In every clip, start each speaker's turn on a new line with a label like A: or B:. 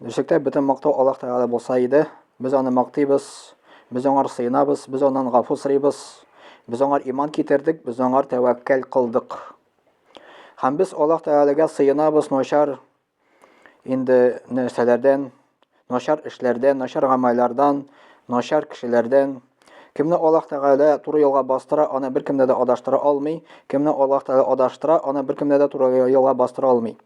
A: Ничектә бөтен мактау Аллаһ Тәгалә булса иде, без аны мактыйбыз, без аңар сыенабыз, без аннан гафу сорыйбыз, без аңар иман китердек, без аңар тәвәккәл кылдык. Һәм без Аллаһ Тәгаләгә сыенабыз начар инде нәрсәләрдән, начар эшләрдән, начар гамәлләрдән, начар кешеләрдән. Кемне Аллаһ Тәгалә туры юлга бастыра, аны беркем дә адаштыра алмый. Кемне Аллаһ Тәгалә адаштыра, аны беркем дә туры юлга бастыра алмый.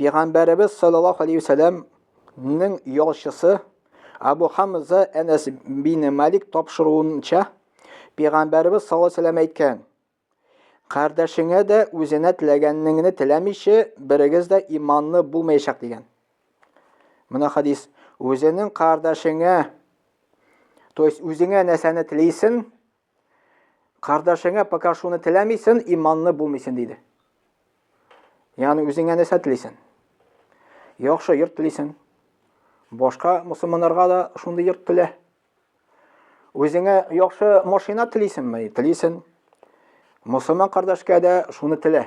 A: Пәйгамбәребез саллаллаһу алейһи ва сәлламнең ялчысы Абу Хамза Әнәс бин Малик тапшыруынча, Пәйгамбәребез саллаллаһу алейһи ва сәлләм әйткән: Кардәшеңә дә үзенә теләгәнеңне теләмичә берегез дә иманлы булмаячак дигән. Менә хадис. Үзенең кардәшеңә, то есть үзеңә нәрсәне телисен, Кардәшеңә пока шуны теләмисен, иманлы булмыйсың диде. Ягъни үзеңә нәрсә телисен? Яхшы йорт телисен. Башка мусламаннарга да шундый йорт телә. Үзеңә яхшы машина телисенме? Телисен. Мусламан кардәшкә дә шуны телә.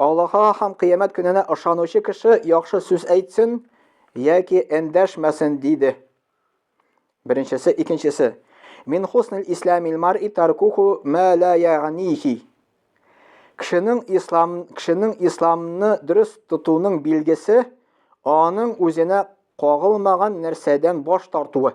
A: Аллаһка һәм кыямәт көненә ышанучы кеше яхшы сүз әйтсен яки эндәшмәсен диде. Беренчесе, икенчесе. Мин хуснил исламил мар'i таркуху ма ла ягънихи. Кешенең ислам кешенең исламны дөрес тотуның билгесе аның үзенә кагылмаган нәрсәдән баш тартуы.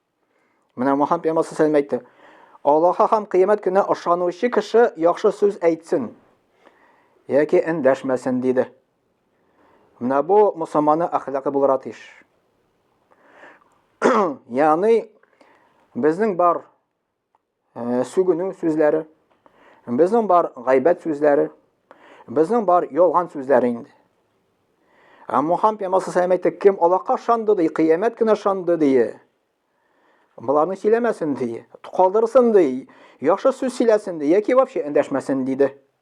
A: Менә Муһам пәйгамбәр сәләм әйтте. Аллаһка һәм кыямәт көненә ышанучы кеше яхшы сүз әйтсен яки эндәшмәсен диде. Менә бу мусламанның әхлакы булырга тиеш. Ягъни безнең бар э, сүгенү сүзләре, безнең бар гайбәт сүзләре, безнең бар ялган сүзләре инде. Ә Мухаммед пәйгамбәр саллаллаху алейһи кем Аллаһка шанды ди, кыямәт көне шанды ди. Боларны сөйләмәсен ди, калдырсын ди, яхшы сүз сөйләсен ди, яки вообще эндәшмәсен диде.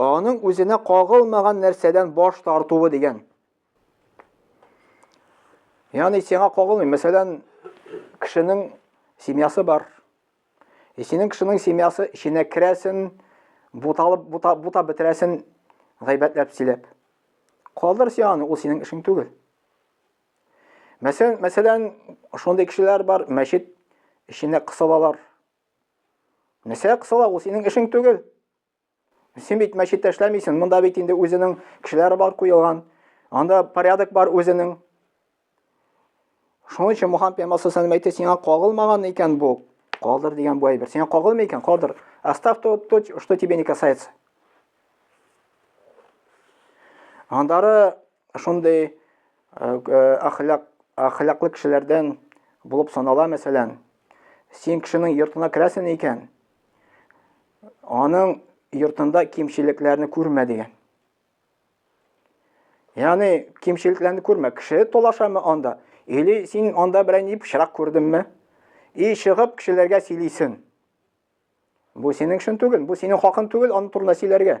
A: Аның үзенә кагылмаган нәрсәдән баш тартуы дигән. Яни сиңа кагылмый. Мәсәлән, кешенең семьясы бар. И синең кешенең семьясы эченә керәсен, буталып, бута, бута бетерәсен, гайбәтләп сөйләп. Калдыр син аны, ул синең эшең түгел. Мәсәлән, мәсәлән, шундый кешеләр бар, мәчет эченә кысылалар. Нәрсә кысыла, ул синең эшең түгел. Син бит мәчеттә эшләмисең, монда бит инде үзенең кешеләре бар куелган. Анда порядок бар үзенең. Шуның өчен Мухаммед пәйгамбәр саллаллаху әйтте, сиңа кагылмаган икән бу. Калдыр дигән бу әйбер. Сиңа кагылмый икән, калдыр. Оставь то, то, что тебе не касается. Андары Шундый әхлак, әхлаклы кешеләрдән булып санала, мәсәлән, син кешенең йортына керәсен икән, аның йортында кимчелекләрне күрмә дигән. Яны кимчелекләрне күрмә, кеше толашамы анда, или син анда берәй ни пычрак күрдеңме? И чыгып кешеләргә сөйлисен. Бу синең шын түгел, бу синең хакын түгел, аны турында сөйләргә.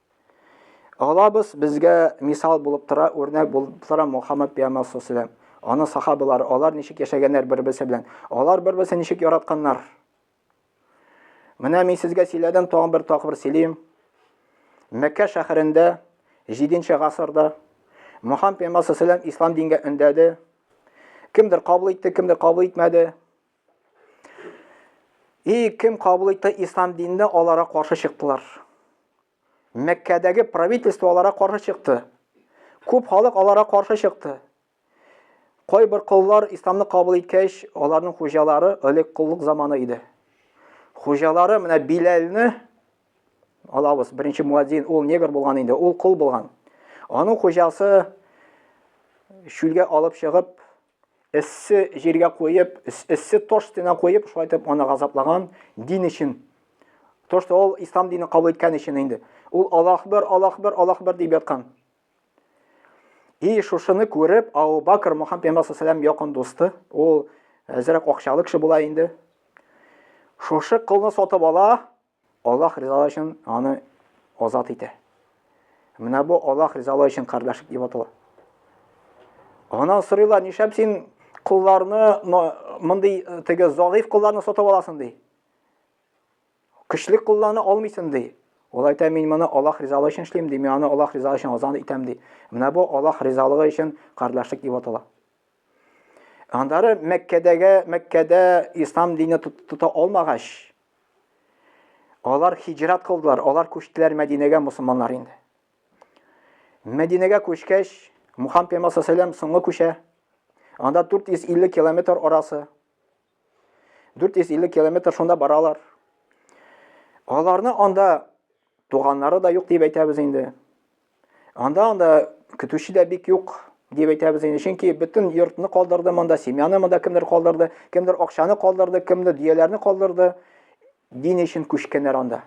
A: Алабыз, безгә мисал булып тора, үрнәк булып тора Мухаммад пиямбар саллаллаһу Аны сахабалары, алар ничек яшәгәннәр бер-берсе белән? Алар бер-берсен ничек яратканнар? Менә мин сезгә сөйләдем, тагын бер тапкыр сөйлим. Мәккә шәһәрендә 7-нче гасырда Мухаммад пиямбар саллаллаһу ислам дингә өндәде. Кемдер кабул итте, кемдер кабул итмәде. И кем кабул итте ислам динне, алара каршы чыктылар. Мәккәдәге правительство алара каршы чыкты. Күп халык алара каршы чыкты. Кой бер коллар исламны кабул иткәч, аларның хуҗалары элек коллык заманы иде. Хуҗалары менә Биләлне алабыз, беренче муадзин, ул негр булган инде, ул кол булган. Аның хуҗасы шүлгә алып чыгып, эссе җиргә куеп, эссе тош стена куеп, шулай итеп аны газаплаган дин өчен. Тош ул ислам динен кабул иткән өчен инде. Ул Аллаһ бер, Аллаһ бер, Аллаһ бер дип яткан. И шушыны күреп, Абу Бакр Мөхәммәд пәйгамбәр саллаллаху алейһи якын дусты, ул әзрәк акчалы кеше була инде. Шушы кылны сатып ала, Аллаһ ризалыгы өчен аны азат итә. Менә бу Аллаһ ризалыгы өчен кардәшлек дип атала. Аннан сорыйлар, нишләп син кулларны мондый э, теге залыйф кулларны сатып аласың ди. Көчле кулларны алмыйсың ди. Ул әйтә, мин моны Аллаһ ризалыгы өчен эшлим ди, мин аны Аллаһ ризалыгы өчен азан итәм ди. Менә бу Аллаһ ризалыгы өчен кардәшлек дип атала. Андары Мәккәдәге, Мәккәдә ислам дине тота алмагач, Алар хиҗрат кылдылар, алар күчтеләр Мәдинәгә мусулманнар инде. Мәдинәгә күчкәч, Мухаммед пәйгамбәр саллаллаху соңгы күчә. Анда 450 километр арасы. 450 километр шунда баралар. Аларны анда туганнары да юк дип әйтәбез инде. Анда анда көтүче дә бик юк дип әйтәбез инде. Чөнки бөтен йортны калдырды монда, семьяны монда кемдер калдырды, кемдер акчаны калдырды, кемдер дөяләрне калдырды. Дин өчен күчкәннәр анда.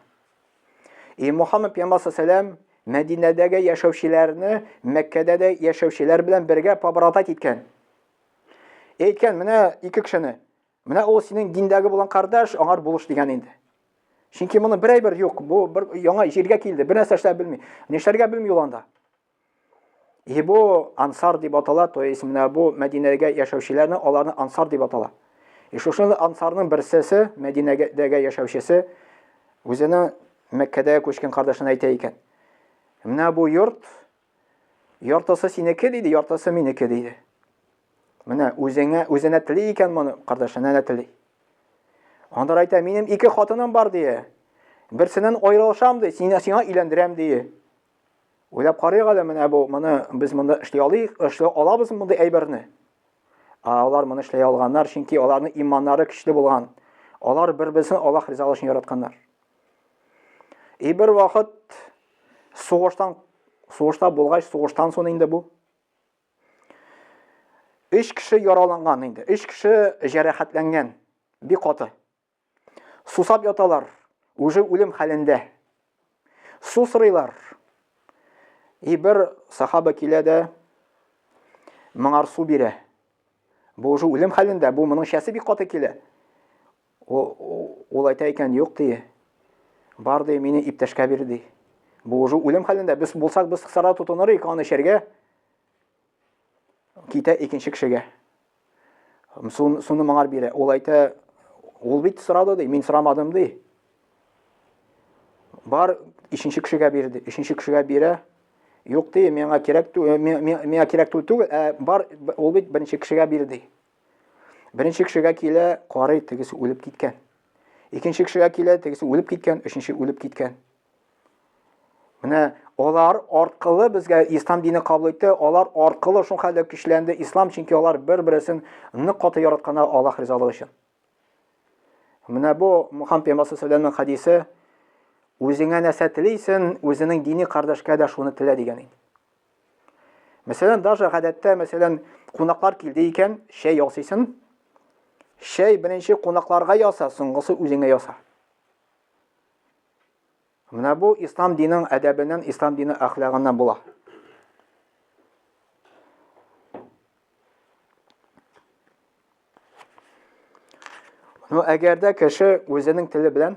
A: И Мухаммад пәйгамбәр саллаллаху Мәдинәдәге яшәүчеләрне Мәккәдә дә яшәүчеләр белән бергә побратать иткән. Әйткән, менә ике кешене Менә ул синең диндәге булган кардәш, аңар булыш дигән инде. Чөнки моны бер әйбер юк, бу бер яңа җиргә килде, бер нәрсә эшләп белми. Нишләргә белми ул анда. И бу ансар дип атала, то есть менә бу Мәдинәгә яшәүчеләрне аларны ансар дип атала. И шушы ансарның берсесе, Мәдинәдәге яшәүчесе үзенең Мәккәдә күчкән кардәшенә әйтә икән. Менә бу йорт Яртысы синеке диде, яртысы минеке диде. Менә үзеңә үзенә тели икән моны, кардәшенә дә тели. Андар әйтә, минем ике хатыным бар дие. Берсеннән аерылышам ди, сине сиңа өйләндерәм дие. Уйлап карыйк әле менә бу, моны без монда эшли алыйк, эшли алабыз мондый әйберне. Ә алар моны эшли алганнар, чөнки аларның иманнары көчле булган. Алар бер-берсен Аллаһ ризалыгы өчен яратканнар. И бер вакыт сугыштан сугышта булгач, сугыштан соң инде бу. Өч кеше яраланган инде, өч кеше җәрәхәтләнгән, би каты. Сусап яталар, уже үлем хәлендә. Су сырыйлар. И бер сахаба килә дә, моңар су бирә. Бу уже үлем хәлендә, бу моның шәсе бик каты килә. Ул әйтә икән, юк ди. Бар ди, мине иптәшкә бир ди. Бу уже үлем хәлендә. Без булсак, без сара тотыныр идек аны эчәргә. Китә икенче кешегә. Суны моңар бирә. Ул әйтә, ул бит сорады ди, мин сорамадым ди. Бар, ишенче кешегә бирде. Ишенче кешегә бирә. Юк ди, миңа кирәк түгел, миңа кирәк түгел, ә бар, ул бит беренче кешегә бирде. Беренче кешегә килә, карый, тегесе үлеп киткән. Икенче кешегә килә, тегесе үлеп киткән, өченче үлеп киткән. Менә алар аркылы безгә ислам дине кабул итте, алар аркылы шул хәлдә көчләнде ислам, чөнки алар бер-берсен нык каты яраткан Аллаһ ризалыгы өчен. Менә бу Мухаммад пәйгамбәр саллаллаху хадисе үзеңә нәрсә телисен, үзенең дини кардәшкә дә шуны телә дигән инде. Мәсәлән, даже гадәттә, мәсәлән, кунаклар килде икән, чәй ясыйсын. Чәй беренче кунакларга яса, соңгысы үзеңә яса. Менә бу ислам динен әдәбеннән, ислам дины әхлагыннан була. Ну, әгәр дә кеше үзенең теле белән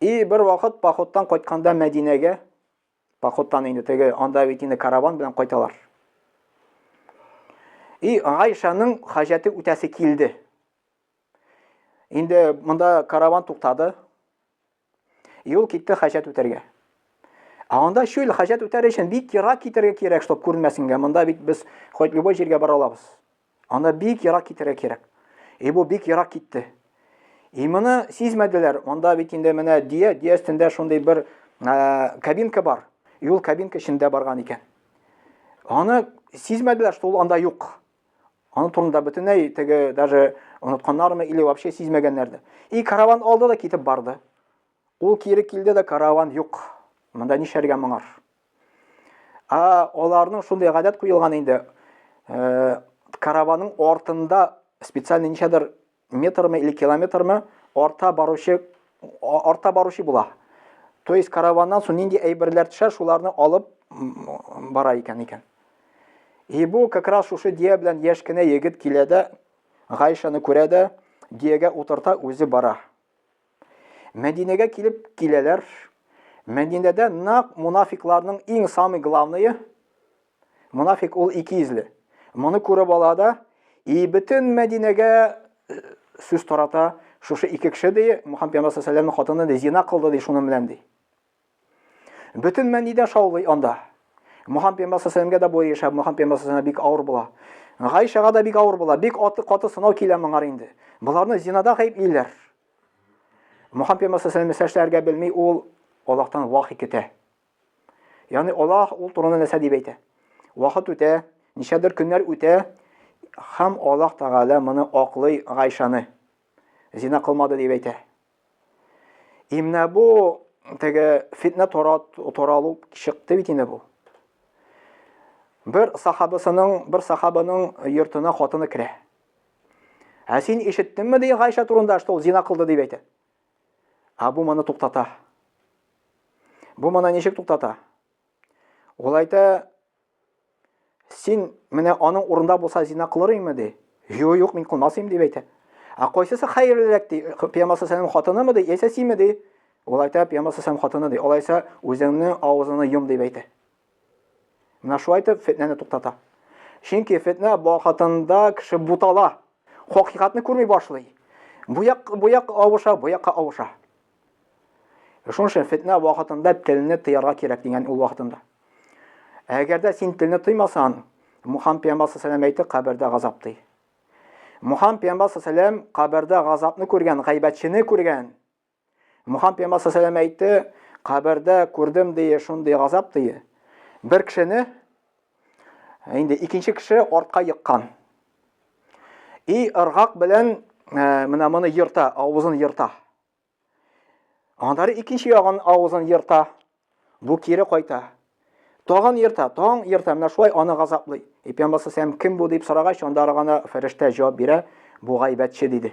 A: И бер вакыт походтан кайтканда Мәдинәгә, походтан инде теге, анда бит инде караван белән кайталар. И Гайшаның хаҗәте үтәсе килде. Инде монда караван туктады. Юл китте хаҗәт үтәргә. Ә анда шул хаҗәт үтәр өчен бик ерак китәргә кирәк, чтобы күренмәсенгә. Монда бит без хоть любой җиргә бара алабыз. Анда бик ерак китәргә кирәк. И бу бик ерак китте. И моны сизмәделәр. Анда бит инде менә дия, дия өстендә шундый бер ә, кабинка бар. И ул кабинка эчендә барган икән. Аны сизмәделәр, что ул анда юк. Аны турында бөтенләй теге даже онытканнармы или вообще сизмәгәннәрдер. И караван алды да китеп барды. Ул кире килде дә караван юк. Монда нишәргә моңар? А, аларның шундый гадәт куелган инде. Э, караваның артында специальный ничәдер метрме или километрме арта баручы арта баручы була. То есть караваннан соң нинди әйберләр төшә, шуларны алып бара икән икән. И бу как раз шушы дия белән яшь кенә егет килә дә, Гайшаны күрә дә, диягә утырта, үзе бара. Мәдинәгә килеп киләләр. Мәдинәдә нак мунафикларның иң самый главные. Мунафик ул ике изле. Моны күреп ала да, и бөтен Мәдинәгә э, сүз тарата, шушы ике кеше ди, Мухаммед пәйгамбәр саллаллаху алейһи хатыны ди, зина кылды ди, шуның белән ди. Бөтен мәни дә шаулый анда. Мухаммед пәйгамбәр саллаллаху да бу яшәп, Мухаммед пәйгамбәр бик авыр була. Гайшага да бик авыр була. Бик аты каты сынау килә моңар инде. Боларны зинада гаеплиләр. Мухаммед пәйгамбәр саллаллаху алейһи ва белми, ул Аллаһтан вахи көтә. Ягъни Аллаһ ул турында нәрсә дип әйтә? Вакыт үтә, ничәдер көннәр үтә, һәм Аллаһ Тәгалә моны аклый Гайшаны. Зина кылмады дип әйтә. И менә бу теге фитнә таралу чыкты бит инде бу. Бер сахабысының, бер сахабының йортына хатыны керә. Ә син ишеттеңме ди Гайша турында, что ул зина кылды дип әйтә. Ә бу моны туктата. Бу моны ничек туктата? Ул әйтә, Син менә аның урында булса зина кылыр име ди. Юк, юк, мин кылмас идем дип әйтә. Ә кайсысы хәерлерәк ди? Пәйгамбер саллаллаһу хатынымы ди, яисә симе ди? Ул әйтә, пәйгамбер саллаллаһу хатыны ди. Алайса үзеңнең авызыңны йом дип әйтә. Менә шулай итеп фетнәне туктата. Чөнки фетнә вакытында кеше бутала. Хакыйкатьне күрми башлый. Бу як бу як авыша, бу якка авыша. Шуның өчен фетнә вакытында телне тыярга кирәк дигән ул вакытында. Әгәр дә син телне тыймасаң, Мухаммад пәйгамбәр саллаллаху әйтте, кабердә газап ди. Мухаммад пәйгамбәр саллаллаху кабердә газапны күргән, гайбәтчене күргән. Мухаммад пәйгамбәр саллаллаху әйтте, кабердә күрдем ди, шундый газап ди. Бер кешене Инде икенче кеше артка еккан. И ыргак белән ә, менә моны ерта, авызын ерта. Аннары икенче ягын авызын ерта. Бу кире кайта. Тагын ерта, тагын ерта, менә шулай аны газаплый. И пәйгамбәр сәм кем бу дип сорагач, анда гына фәрештә җавап бирә, бу гайбәтче диде.